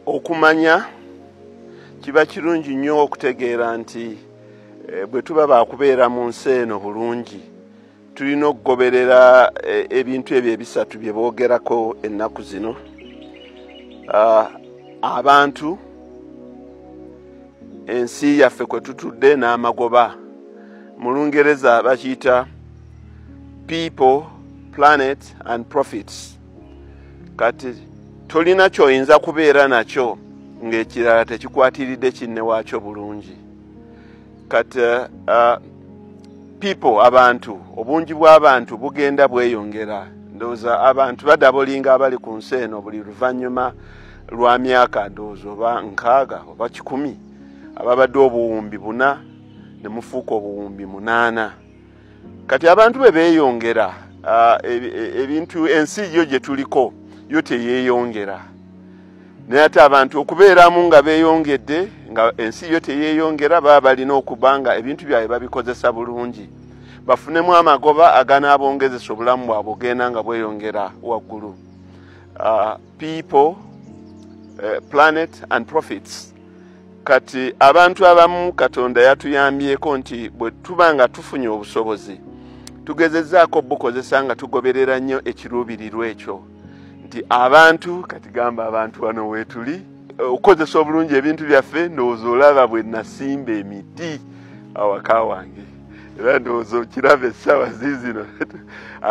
okumanya kiba kirungi nnyo okutegeera nti eh, bwe tuba bakubeera mu nsi eno bulungi tulina okugoberera eh, ebintu ebyo ebisatu bye boogerako ennaku zino ah, abantu ensi yaffe kwe tutudde n'amagoba mu lungereza bakiyita people planet and profits kati tolina kyoyinza kubeera nakyo ng'ekirala tekikwatiridde kinne waakyo bulungi kati uh, uh, people abantu obungi bw'abantu bugenda bweyongera ndowooza abantu badabolinga abali ku nsi eno buli luvannyuma lwa myaka ndowooza oba nkaaga oba kikumi ababadde obuwumbi buna ne mufuuka obuwumbi munaana kati abantu bwe beeyongera ah, e, e, ebintu ensi yo gye tuliko yo teyeeyongera naye ate abantu okubeeramu nga beeyongedde nga ensi yo teyeeyongera baba balina okuba nga ebintu byabwe babikozesa bulungi bafunemu amagoba aganaabongezesa obulamu bwabwe ogenda nga bweyongera waggulu ah, people eh, planet and profits kati abantu abamu katonda yatuyambyeko nti bwe tuba nga tufunye obusobozi tugezezaako bukozesa nga tugoberera nnyo ekiruubirirwa ekyo nti abantu kati gamba abantu wano weetuli okukozesa obulungi ebintu byaffe ndowooza olaba bwe nasimba emiti awaka wange era ndowooza okiraba essaawa ziizino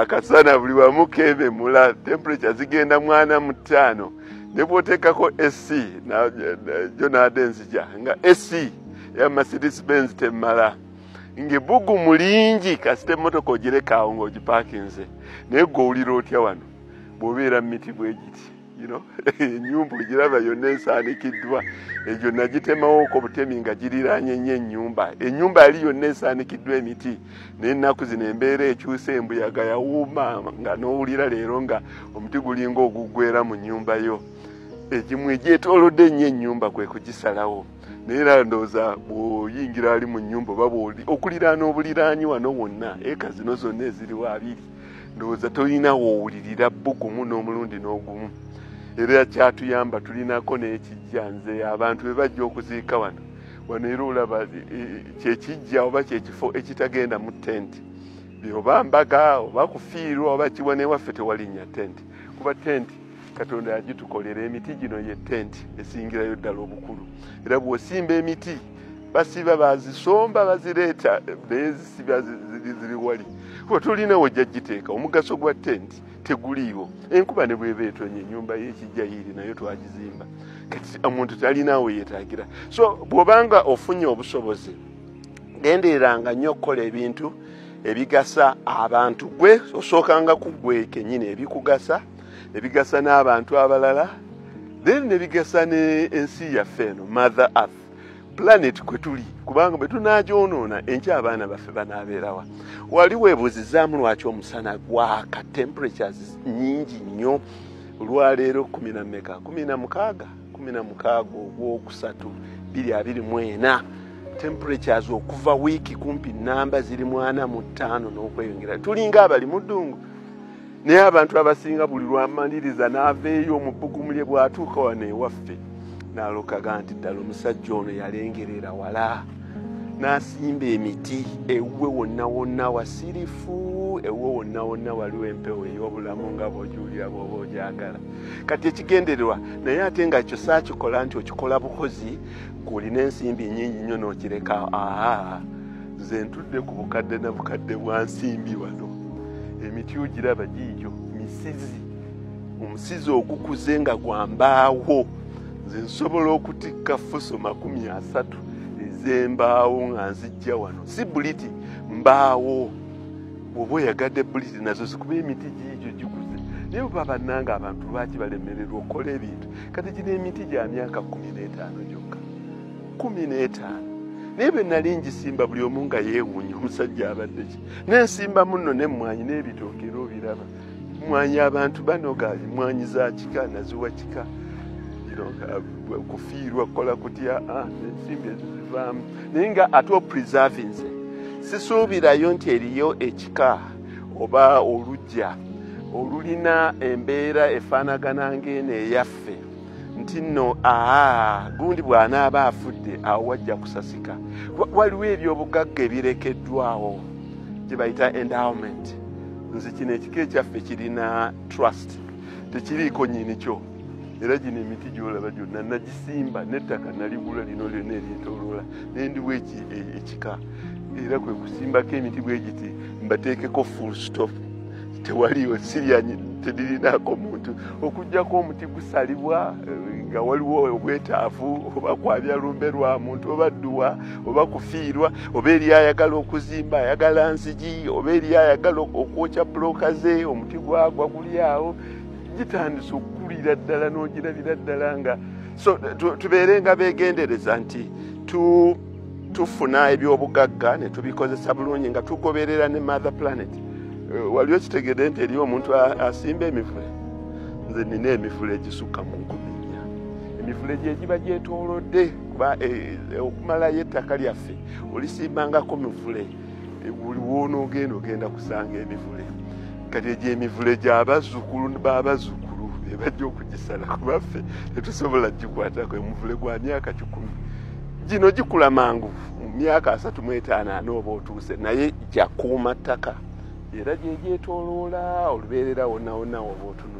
akasana buli wamu keememula temperature zigenda mwana mu ttaano ne bwoteekako sc jo naade nzija nga sc ya mercedes benz temmala ngebugu mulingi kasita emotoka ogirekaawo ngaogipakinze naye gwe owulira otya wano bwobeera mumiti bwegiti enyumba ogiraba yonna esaanikiddwa egyo nagitemawoko butemi nga giriranye nyo enyumba enyumba yali yonna esaanikiddwa emiti naye ennaku zino embeera ekyusa embuyaga yawuuma nga n'owulira leero nga omuti gulinga oguggwera mu nnyumba yo egimu egyetoolodde ennyo ennyumba kwe kugisalawo naye era ndowooza bw'oyingira ali mu nnyumba oba okuliraana obuliraanyi wano wonna eka zino zonna eziriwo abiri ndowooza tolina woowulirira bbugumu n'omulundi n'ogumu era kyatuyamba tulinako n'ekijja nze abantu be bajja okuziika wano wano era olaba e, e, kyekijja oba kyekifo ekitagenda mu tenti oba mbaga oba kufiirwa oba kiwa newaffe tewalinnya tenti kuba tenti katonda yagitukolera emiti gino ye tenti esingirayo ddala obukulu era bwosimba emiti basiba bazisomba bazireeta naye zisiba ziri wali kuba tolina wejjagiteeka omugaso gwa tenti teguliiwo enkuba ne bweba etonye enyumba yekijayiri nayo twagizimba kati omuntu talinaawo yetagira so bwobanga ofunye obusobozi gendereranga nnyo okukola ebintu ebigasa abantu gwe osookanga kugwe kenyini ebikugasa ebigasa n'abantu abalala then nebigasa ne ensi yaffe eno mother earth planet kwe tuli kubanga bwe tunaagyonoona enkya abaana baffe banaabeerawa wali weebuuzizaamu lwaki omusana gwaka temperatures nyingi nnyo olwaleero kumi na meka kumi na mukaaga kumi na mukaaga ogwokusatu biri abiri mu ena temperatures okuva wiiki kumpi namba ziri mwana mu ttaano n'okweyongera tulinga abali mu ddungu naye abantu abasinga buli lwamaliriza n'aveeyo omubugumulye bw'atuuka wano ewaffe n'alokaga nti ddala omusajja ono yalengerera wala n'asimba emiti ewuwe wonna wonna wasirifu ewuwe wonna wonna waliwo empewo ey'obulamu nga bwogiwulira bwoba ogyagala kati ekigendererwa naye ate nga ekyo saakikola nti okikola bukozi ng'olina ensimbi nyingi nnyo n'okireka aa nze ntudde ku bukadde na bukadde bwa nsimbi wano emiti ogiraba giijo misizi omusizi ogukuze nga gwambaawo nze nsobola okutikka fuso makumi asatu ezembaawo nga nzijja wano si buliti mbaawo oba oyagadde buliti nazo zikuba emiti giijo gikuze naye oba bannanga abantu lwaki balemererwa okukola ebintu kati gino emiti gya myaka kumi n'etaano gyokka kumi n'etaano naye bwe nali ngisimba buli omu nga yeewuunya omusajja abadde ki nensimba munno nemmwanyi n'ebitooke era obiraba mwanyi abantu banoga mwanyi za kika naziwa kika kufiirwa kukola kutya ah, ensimbi ezizivaamu naye nga ate opreservinze sisuubirayo nti eriyo ekika oba olugya olulina embeera efaanagana ng'eno eyaffe nti nno aa gundi bw'anaaba afudde awo wajja kusasika waliwo ebyobugagga ebirekeddwawo gye bayita endowment nze kino ekika ekyaffe kirina trust tekiriiko nyini kyo era gino emiti gyolaba gyonna nagisimba nettaka naligula lino lyonna eryetoloola nendiwo e, ekika era kwe kusimbako emiti bwe giti mbateekeko full stop tewaliyo siryanyi tedirinaako muntu okugjako omuti gusalibwa eh, nga waliwo obwetaavu oba kwabya lumbe lwa muntu oba dduwa oba kufiirwa oba eri ayagala okuzimba ayagala nzigi oba eri ayagala okwokya bulooka ze omuti gwagwa guli awo gitandisa okukulira ddala n'ogirabira ddala nga so tubeere nga begendereza nti tu tufuna ebyobugagga ne tubikozesa bulungi nga tugoberera ne mother planet eh, wali okitegede nti eriyo omuntu asimba emivule nze nina emivule egisukka mu nkumi nnya emivule gyegiba gyetolodde kuba eh, okumalayo ettaka lyaffe olisimbangako mivule buli wonoogenda ogenda kusanga emivule kati egyo emivule gyabazzukulu babazzukulu ebajja okugisala kubaffe tetusobola gikwatako emuvule gwa myaka kikumi gino gikula mangu mu myaka asatu mu etaano ana oba otuuse naye gyakuuma ttaka era gyegyetoloola olubeerera wonawona oba otunula